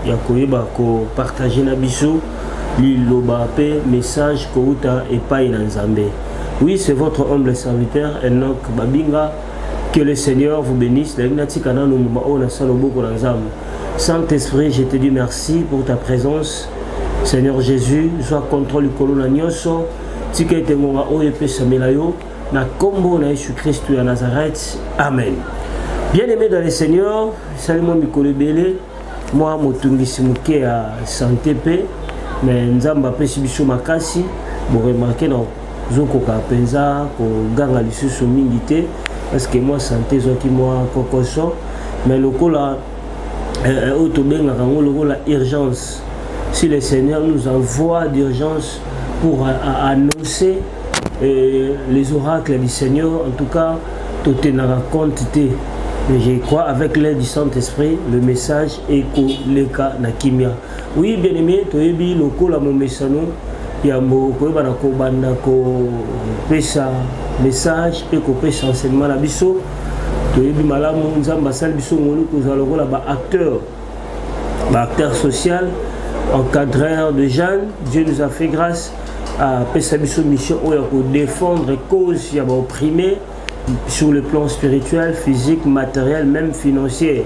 ya koyeba kopartage na biso liloba mpe message kouta epai na nzambe oui c'est votre humble serviteur enok babinga que le seigneur vous bénisse nayebi natika nano mbuma oyo nasala oboko na nzambe saint esprit je te dis merci pour ta présence seigneur jésus zwa contrôle likolo na nyonso tika ete ngonga oyo epesamela yo Na kombo na Yesu Kristu ya Nazareth, amen. Bien aimé dans le Seigneur, esali mwa mikolo ebele mwa motungisi moke ya sante mpe me nzambe apesi biso makasi boremarke na zokoka mpenza koganga lisusu mingi te parceke mwa sante ezwaki mwa kokoso me lokola eh, eh, oyo tobengaka yango lokola urgence si le seigneur nous envoie d'urgence pour euh, annoncer Et les oracles du Seigneur, en tout cas, tout est dans la quantité. Mais je crois avec l'aide du Saint-Esprit, le message est koleka na kimia. Oui, bien aimé, toyebi lokola mon message yambo koyeba na kobanda kopesa message mpe kopesa enseignement na biso toyebi malamu nzambe asali biso ngolu kozala lokola baacteur acteur social encadreur de jeunes dieu nous a fait grâce apesa biso mission oyo ya kodefendre cause ya baopprime sur le plan spirituel physique matériel même financier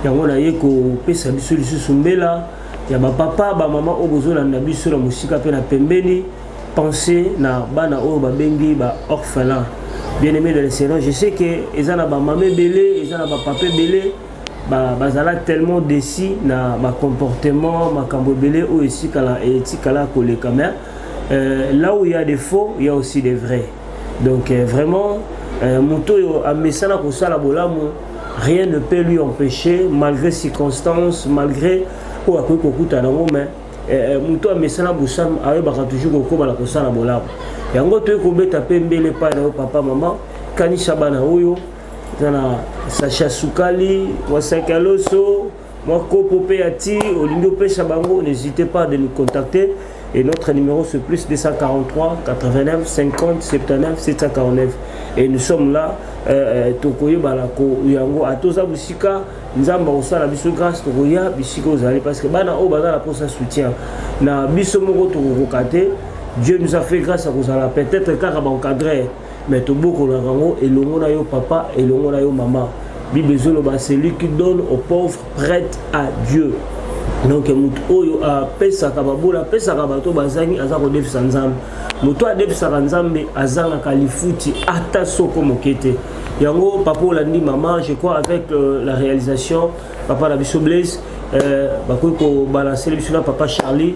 yango naye kopesa biso lisusu mbela ya bapapa bamama oyo bozolanda biso na mosika mpe na pembeni pense na bana oyo babengi ba orphelin bien aimé de le seigneur je sais que eza na bamama ebele eza na bapapa ebele ba bazala tellement déçu na ba comportement makambo ebele oyo esikala etikala koleka mais euh, là où il y a des faux il y a aussi des vrais donc euh, vraiment euh, moto oyo amesana kosala bolamu rien ne peut lui empêcher malgré circonstances malgré oyo akoki kokutana yango mais euh, euh, moto amesana bosamu ayebaka toujours kokoma na kosala bolamu yango toyei kobeta mpe mbele epai na yo papa mama kanisa bana oyo eza na sache ya sukali mwa saki ya loso mwa kopo mpe ya ti olingi opesa bango n'hésitez pas de nous contacter et notre numéro c'est plus 243 89 50 79 749 et nous sommes là euh, euh, tokoyebana ko yango ata oza mosika nzambe akosala biso grâce tokoya bisika ozali parce que bana oyo baza na mposa soutien na biso moko tokokoka te dieu nous a fait grâce ya kozala peut-être kaka baencadrer Mais tobokolaka yango elongo na yo papa, elongo na yo mama. Bible ezoloba celui qui donne aux pauvres prête à Dieu. donc moto oyo apesaka babola apesaka bato bazangi aza kodefisa nzambe moto adefisaka nzambe azangaka lifuti ata soko moke te yango papa olandi mama je crois avec euh, la réalisation papa na biso blaise euh, bakoki kobalancer biso na papa charlie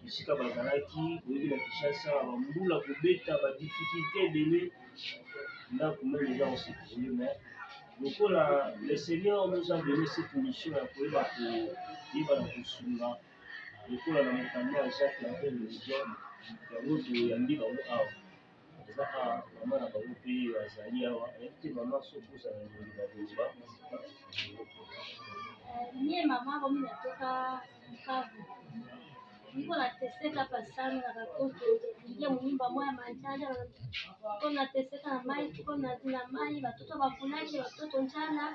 esika bazalaki boyebi na kinshasa bambula kobeta badifficulte ebele ndako meme eza kosekole me lokola le seigneur nous a donné cette mission ya koyeba koyeba na kosunga lokola na mokanda ya jacques ya religion yango toyambi bango awa Eza awa maman na bango pe azali awa nayebi te maman soki ozala na elongi na koloba mie mama komi na toka mkavu niko na teseka pasami na bakoto nge moyimba mwa ya manjala ko na teseka na mai ko na na mai batoto bakulaki batoto njala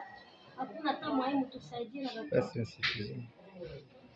hakuna hata mwai mtu saidie na batoto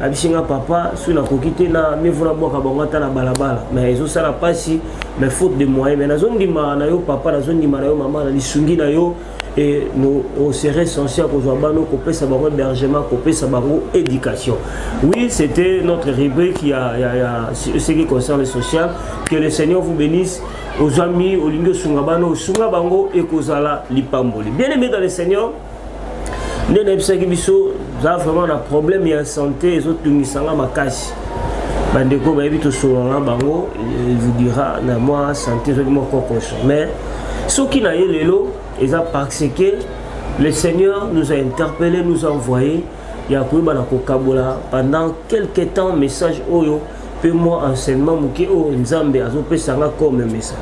abisi nga papa soki nakoki te na mivu nabwaka bango ata na balabala mais ezosala mpasi mais faute de moyen mais nazondima na yo papa nazondima na yo mama na lisungi na yo et nous on serait censé kozwa bano kopesa bango hébergement kopesa bango éducation oui c'était notre rubrique ya, ya, ya ce qui concerne le social que le seigneur vous bénisse ozwami olingi osunga bano osunga bango ekozala lipamboli bien aimé dans le seigneur nde nayebisaki biso za vraiment na problème ya santé ezotungisa nga makasi bandeko bayebi tosololana bango evidira na mwa santé ezwaki mwa kokoso mais soki na ye lelo eza parce que le seigneur nous a interpellé nous a envoyé ya koyeba na kokabola pendant quelque temps message oyo mpe mwa enseignement moke oyo nzambe azopesa nga comme mesa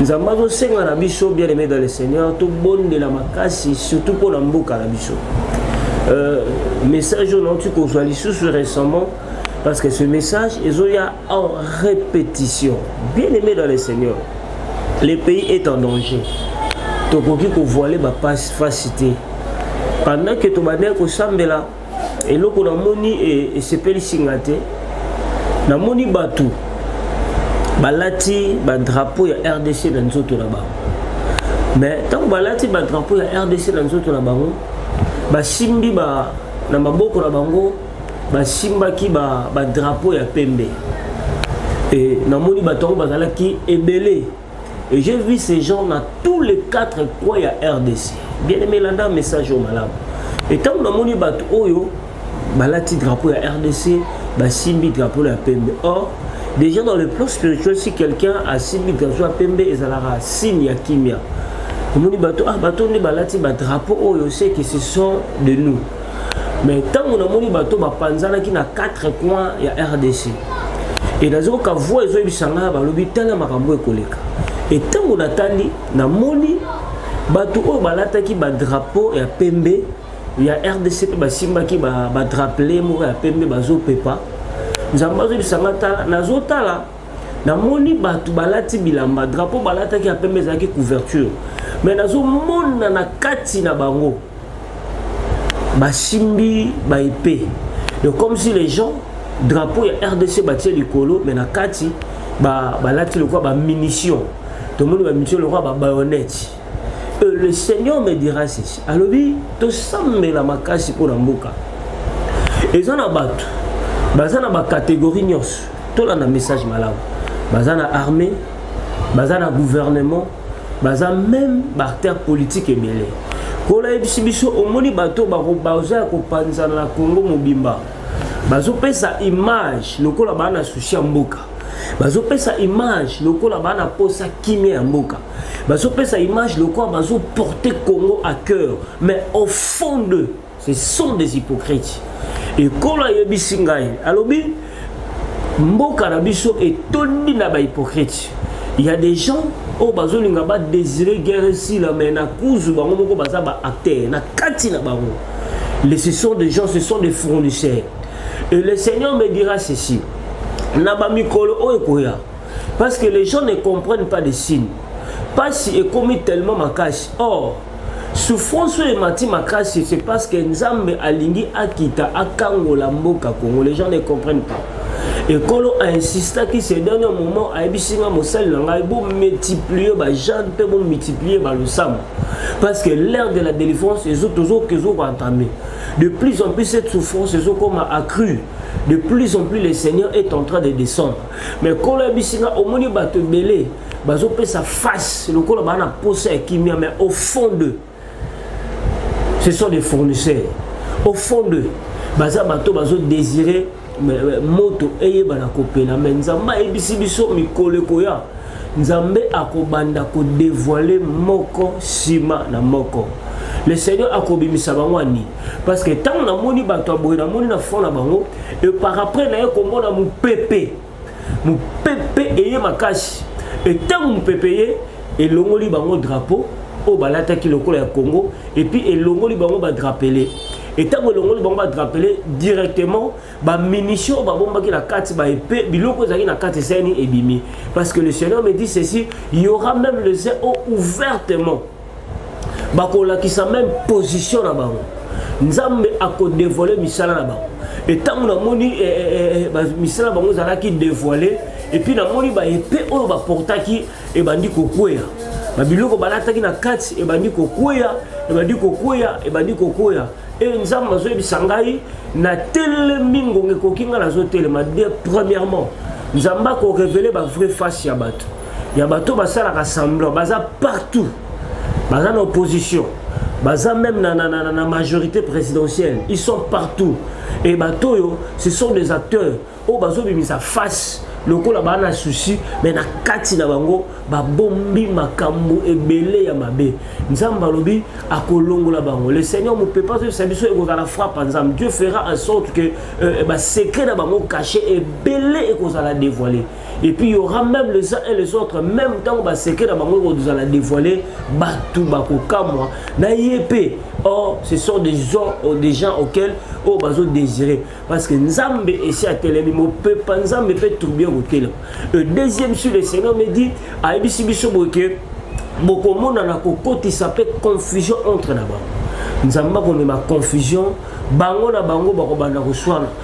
nzambe azosenga na biso bien aimé dans le seigneur tobondela makasi surtout mpo na mboka na biso euh, message oyo nauti kozwa lisusu récemment parce que ce message ezoya en répétition. Bien-aimé dans le Seigneur, le pays est en danger. tokoki kovoile bapasi fasi te pendant ke tobandaki kosambela eloko namoni e, esepelisi nga te namoni bato balati badrapo ya rdc na nzoto na bango mais ntango balati badrapo ya rdc na nzoto na bango basimbi ba, na maboko na bango basimbaki badrapo ba ya pembe e, namoni bato yango bazalaki ebele et j'ai vu ces gens na tous les quatre coins ya rdc bien aimé landa message oyo malamu e ntango namoni bato oyo balati drapo ya rdc basimbi drapo ya pembe or déjà dans le plan spirituel si quelqu'un asimbi drapo ya pembe ezalaka signe ya kimia omoni bato ah bato nde balati badrapo oyo seke ce sont de nous mais ntango namoni bato bapanzanaki na 4 coin ya rdc e nazi koka voi ezoyebisa ngai balobi tala makambo ekoleka e ntango natali namoni bato oyo balataki badrapo ya pembe ya rdc mpe basimbaki badrapele moko ya pembe bazopepa nzambe azoyebisa ngai tala nazotala namoni bato balati bilamba drapo balataki ya pembe ezalaki couverture mais nazomona na kati na bango basimbi ba épée donc comme si les gens drapeau ya rdc batie likolo mais na kati balati ba lokola bamunition tomoni bamunition lokola babayonnette euh, le seigneur me dira ceci alobi tosambela makasi mpo na mboka eza na bato baza na bacatégorie nyonso tolanda message malamu baza na armée baza na gouvernement baza meme baacteur politique ebele kola yebisi biso omoni bato baza ya kopanzana na congo mobimba bazopesa image lokola baa na susi ya mboka bazopesa image lokola baa na mposa kimia ya mboka bazopesa image lokola bazoporte congo à cœur mais au fond de Ce sont des hypocrites. Et quand a yebi singai, alobi mboka na biso etondi na ba hypocrites. Il y a des gens oyo bazolinga badesire guerre esila mai na kuzu bango moko baza baacteur na kati na bango les ce sont des gens ce sont des fournisseurs et le seigneur me dira ceci na bamikolo oyo ekoya parce que les gens ne comprennent pas des signes mpasi ekomi tellement makasi or souffrance oyo emati makasi c'est parce que nzambe alingi akita akangola mboka congo les gens ne comprennent pas ekolo ainsistaki ce dernier moment ayebisi nga mosali na ngai bomultiplie bajane mpe bomultiplie balosambo parce que l'ère de la délivrance ezokoentame de plus en plus cette souffrance ezokoma accrue de plus en plus le seigneur est en train de descendre mais kolo ayebisi nga omoni bato ebele bazopesa face lokola baa na posa ya kimia mais au fond de ce sont des fournisseurs au fond de baza bato bazodésire moto eyebana kopela me nzambe ayebisi biso mikolo ekoya nzambe akobanda kodevoile moko nsima na moko le seigneur akobimisa bango ani parce que ntango namoni bato ya boye namoni na fond na bango eparapres naye komona mopepe mopepe eye makasi ntango mopepe eye elongoli bango drapeau oyo balataki lokola ya congo epuis elongoli bango badrapele ntango elongoli bango badrapele directement bamunition oyo babombaki na kati baepe biloko ezalaki na kati eseni ebimi parce que le seigneur me dit ceci y aura même les eaux ouvertement bakolakisa meme position na bango nzambe akodevole misala na bango etango namoni eh, eh, eh, eh misala bango ezalaki devoile epuis namoni baepe oyo baportaki ebandi kokweya babiloko balataki na kati ebandi kokweya ebandi kokweya ebandi kokweya e nzambe azoyebisa ngai natelemi ngonga ekoki ngai nazotelema de premièrement nzambe akorevele bavrai face ya bato ya bato basalaka semblant baza partout baza na opposition baza même na, na, na, na majorité présidentielle ils sont partout et bato oyo ce sont des acteurs oyo bazobimisa face lokola baa na susi me na kati na bango babombi makambo ebele ya mabe nzambe alobi akolongola bango le seigneur mopepa azoyebisa biso ekozala frappe ya nzambe dieu fera en sorte que euh, basecret na bango cache ebele ekozala dévoile et puis il y aura même les uns et les autres même ntango baseke na bango ekozala dévoile bato bakokamwa na ye mpe or ce sont des gens, euh, des gens auxquels oyo oh, bazodésire parce que nzambe esi atelemi mopepa nzambe mpe troubi ekotelema le deuxième sur le seigneur me dit ayebisi biso boye ke bokomonana kokotisa mpe confusion entre na bango nzambe akomema confusion bango na bango bakobanda koswana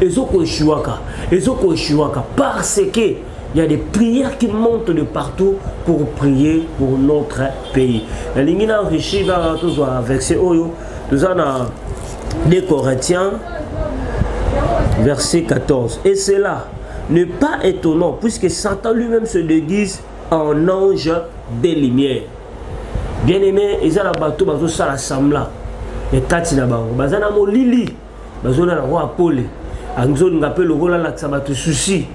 ezo ko echuaka ezo ko echuaka parce que il y a des prières qui montent de partout pour prier pour notre pays nalingi na enrichi kaka tozwa verset oyo toza na 2 corinthiens verset 14 et cela n'est pas étonnant puisque satan lui-même se déguise en ange des lumières bien aimé eza na bato bazosala sembla ekati na bango baza na molili bazola na roi pole anzolinga mpe lokola alakisa bato susi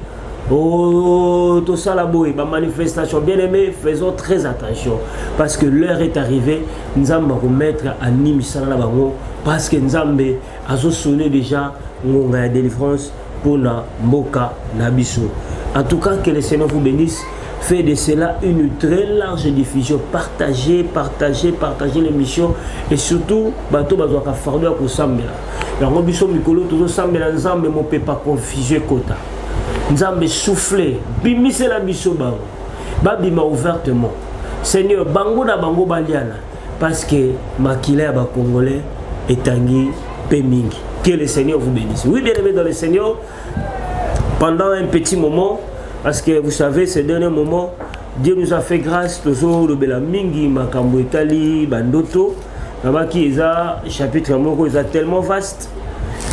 o oh, tosala boye bamanifestation bien aimé faisons très attention parce que l'heure est arrivée nzambe akomettre ani misala na bango parce que nzambe azosone déjà ngonga ya délivrance pona mboka na biso en tout cas que le seigneur vous bénisse fait de cela une très large diffusion partagez partagez partagez l'émission et surtout bato bazwaka fardo ya kosambela yango biso mikolo tozosambela nzambe mopepa confuse ekota nzambe souffle bimisela biso bango babima ouvertement seigneur bango na bango baliana parce que makila ya bacongolais etangi mpe mingi que le seigneur vous bénisse oui bien aimé dans le seigneur pendant un petit moment parce que vous savez ce dernier moment dieu nous a fait grâce tozolobela mingi makambo etali bandoto nabaki eza chapitre moko eza tellement vaste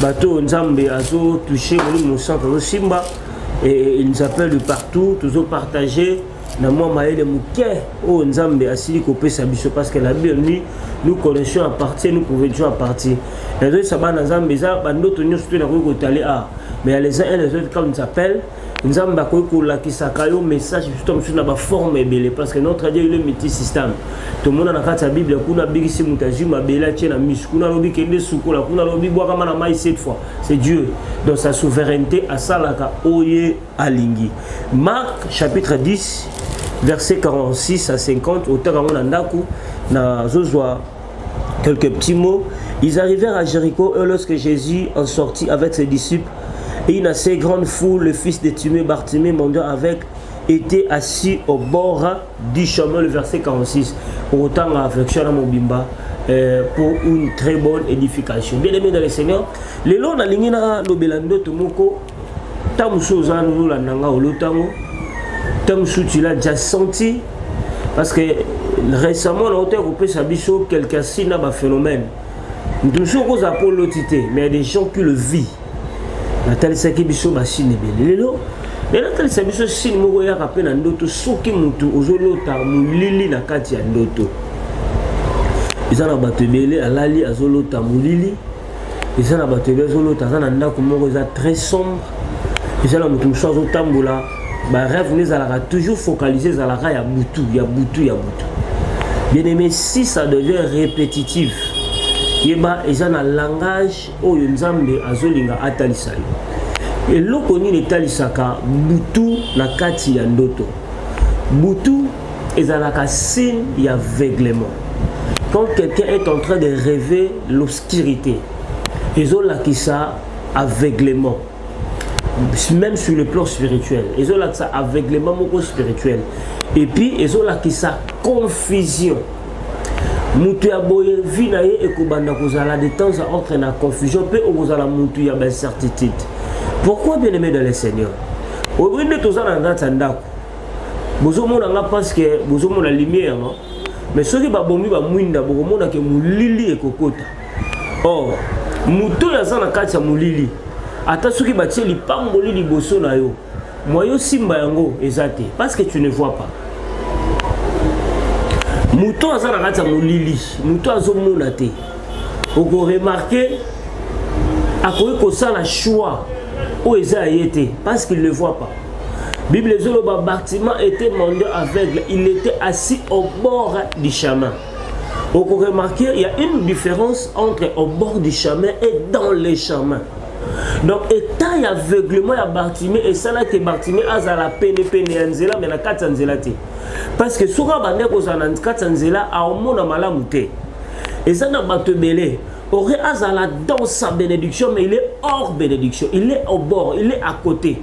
bato oyo nzambe azotouche molimo mosantu azosimba et il nous appelle de partout tozopartage na mwa mayele moke oyo nzambe asili kopesa biso parce que la bible dit nous connaissons à partir nous pouvons toujours à partir nazoyisa bana nzambe eza bandoto nyonso to nakoki kotali a mais ya les uns et les autres comme s'appelle nzambe akoki kolakisaka yo message biso mosusu na baforme ebele parce que notre dieu ile multi système tomona na kati ya bible kuna abikisi moto azwi mabele atie na misu kuna alobi kende sukola kuna alobi bwakama na mai cette fois c'est dieu dans sa souveraineté asalaka oye alingi marc chapitre 10 verset 46 à 50 otaka yango na ndako nazozwa quelques petits mots ils arrivèrent à jéricho et lorsque jésus en sortit avec ses disciples et une assez grande foule le fils de timé bartimée mendiant avec était assis au bord du chemin le verset 46 otanga affection na mobimba Euh, pour une très bonne édification bien aimé dans le seigneur lelo nalingi nalobela ndoto moko ntango mosusu oza nolanda nga olotango ntango mosusu tila ja senti parce que récemment nauta ya kopesa biso quelqu'un si na baphénomène moto mosusu okozala mpo oloti te mais ya des gens qui le vie natalisaki biso basine ebele lelo lelo atalisa biso sine moko eyaka mpe na ndoto soki moto ozolota molili na kati ya ndoto eza na bato ebele alali azolota molili eza na bato ebe azolota aza na ndako moko eza très sombre eza na moto mosusu azotambola barêve nde ezalaka toujours focalise ezalaka ya butu ya butu ya butu bien aimé si ça devient répétitive yeba eza na langage oyo nzambe azolinga atalisa yo eloko nini etalisaka butu na kati ya ndoto butu ezalaka signe ya veuglement quand quelqu'un est en train de rêver l'obscurité ezolakisa aveuglement même sur le plan spirituel ezolakisa aveuglement moko spirituel et puis ezolakisa confusion moto ya boye vi na ye ekobanda kozala de temps à autre na confusion mpe okozala moto ya baincertitude pourquoi bien aimé dans le seigneur oyebi nde toza na kati ya ndako bozomona nga parce que bozomona lumière no mais soki babomi bamwinda bokomona ke molili ekokota or moto oyo aza na kati ya molili ata soki batie lipamboli liboso na yo mwa yo simba yango eza te parce que tu ne vois pas moto aza na kati ya molili moto azomona te okoremarke akoki kosala choix oyo eza ya ye te parce qu'il ne voit pas Bible ezoloba Bartima était mendiant aveugle, il était assis au bord du chemin. On peut remarquer il y a une différence entre au bord du chemin et dans les chemins. Donc état ya aveuglement ya Bartimé et ça là que Bartimé azala pene pene ya nzela mais na kati ya nzela te. Parce que soki abandaki kozala na kati ya nzela aomona malamu te. Eza na bato ebele aurait azala dans sa bénédiction mais il est hors bénédiction, il est au bord, il est à côté.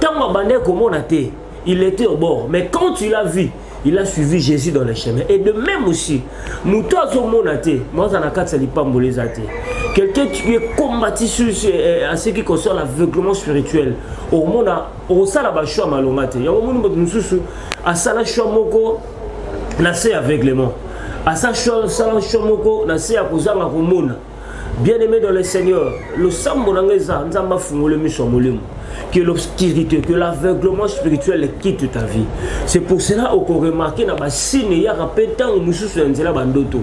Tant abandaki komona te, il était au bord. Mais quand il a vu, il a suivi Jésus dans le chemin. Et de même aussi, moto azomona te, mwaza na kati ya lipamboli eza te. Quelqu'un qui est combattu sur, sur, euh, à ce qui concerne l'aveuglement spirituel, omona osala ba choix malonga te. Yango moni moto mosusu asala choix moko na se aveuglement. Asala choix moko na se ya kozanga komona. bien aimé dans le seigneur losambo na ngai eza nzambe afungoli miso ya molimo que l'obscurité que l'aveuglement spirituel quitte ta vie c'est pour cela okoremarke na basine eyaka mpe ntango mosusu ya nzela bandoto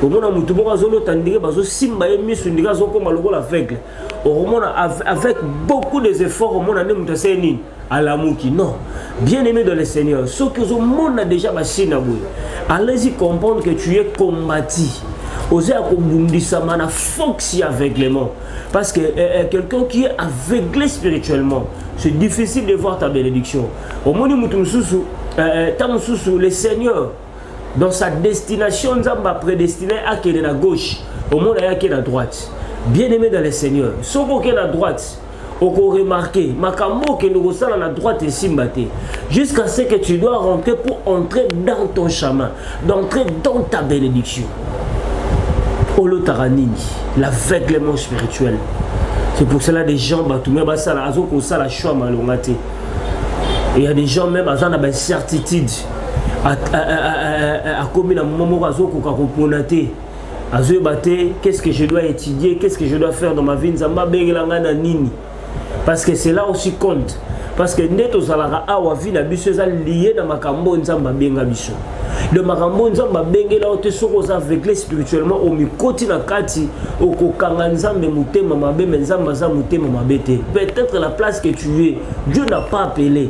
omona motu moko azolota ndenge bazosimba ye miso ndenge azokoma lokola aveugle okomona avec beaucoup des efforts omona nde moto aseye nini alamuki non bien aimé dans le seigneur soki ozomona déjà basine na boye allez-y comprendre que tu es combati oza ya kobundisama na fox ya aveuglement parce que eh, eh, quelqu'un qui est aveuglé spirituellement c'est difficile de voir ta bénédiction omoni moto mosusu ntango eh, eh mosusu le seigneur dans sa destination nzambe aprédestiné akende na gauche omona yaki na droite bien aimé dans le seigneur soki okende na droite okoremarke makambo okende kosala na droite esimba te jusqu'à ce que tu dois rentrer pour entrer dans ton chemin d'entrer dans ta bénédiction olotaka nini l'aveuglement spirituel c'est pour cela des gens bato me basala azo kosala choix malonga te il y a des gens même aza na baincertitude akomi na momo moko azokoka kopona te azoyeba te qu'est-ce que je dois étudier qu'est-ce que je dois faire dans ma vie nzambe abengela ngai na nini parce que cela aussi compte parce que nde tozalaka awa vie na biso eza lie na makambo oyo nzambe abenga biso le makambo oyo nzambe abengela yo te soki oza aveugle spirituellement omikoti na kati okokanga nzambe motema mabe me nzambe aza motema mabe te peut-être la place que tu es dieu n'a pas appelé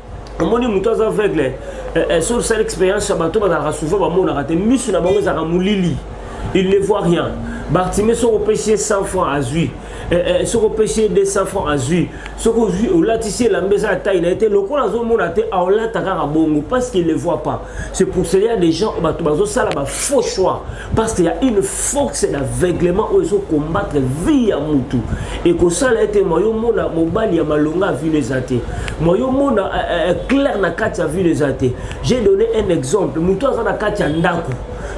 omoni moto aza aveugle eh, eh, sur sale expérience ya bato bazalaka souvent bamonaka te misu na bango ezalaka molili il ne voit rien bartime soki opesi ye 100 franc azwi eh, soki opesi ye 200 franc azwi soki ozwi olatisi elamba eza ya tai na ye te lokola azomona te aolata kaka bongo parce qu'il ne voit pas c'est pour cela des gens bato bazosala bafaux choix parce qu'il y a une force d'aveuglement oyo ezo combattre vie ya mutu ekosala ete mwa yo mona mobali ya malonga ya vino eza te mwa yo mona eh, eh, eh, claire na kati ya vino eza te j'ai donné un exemple mutu aza na kati ya ndako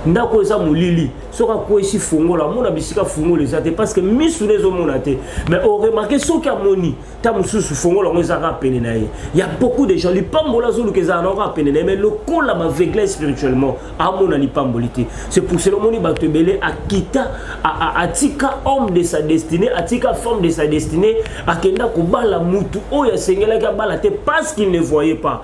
ndako eza molili soki akwesi fungola amona bisika fungola eza te parce que misu na ezomona te mais oremarke soki amoni ta mosusu fongola yango eza kaka pene na ye ya beaucoup de gens lipamboli azoluka ezala na yango kaka pene na ye mai lokola bavegla spirituellement amona lipamboli te c'est pour cela omoni bato ebele akita atika homme de sa destinée atika femme de sa destinée akenda kobala mutu oyo asengelaki abala te parce qu'il ne voyait pas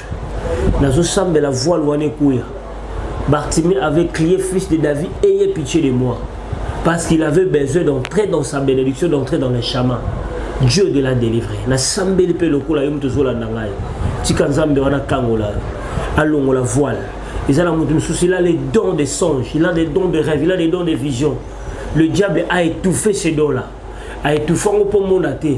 nazosambela voile wana ekuya bartime avait crié fils de david ayez pitié de moi parce qu'il avait besoin d'entrer dans sa bénédiction d'entrer dans le chemin dieu de la délivrer nasambeli mpe lokola yo moto ozolanda ngai tika nzambe wana akangola yo alongola voile eza na moto mosusu il a les dons de songe il a des dons de rêve il a des dons de vision le diable a étouffé ce don là a étouffe yango mpo omona te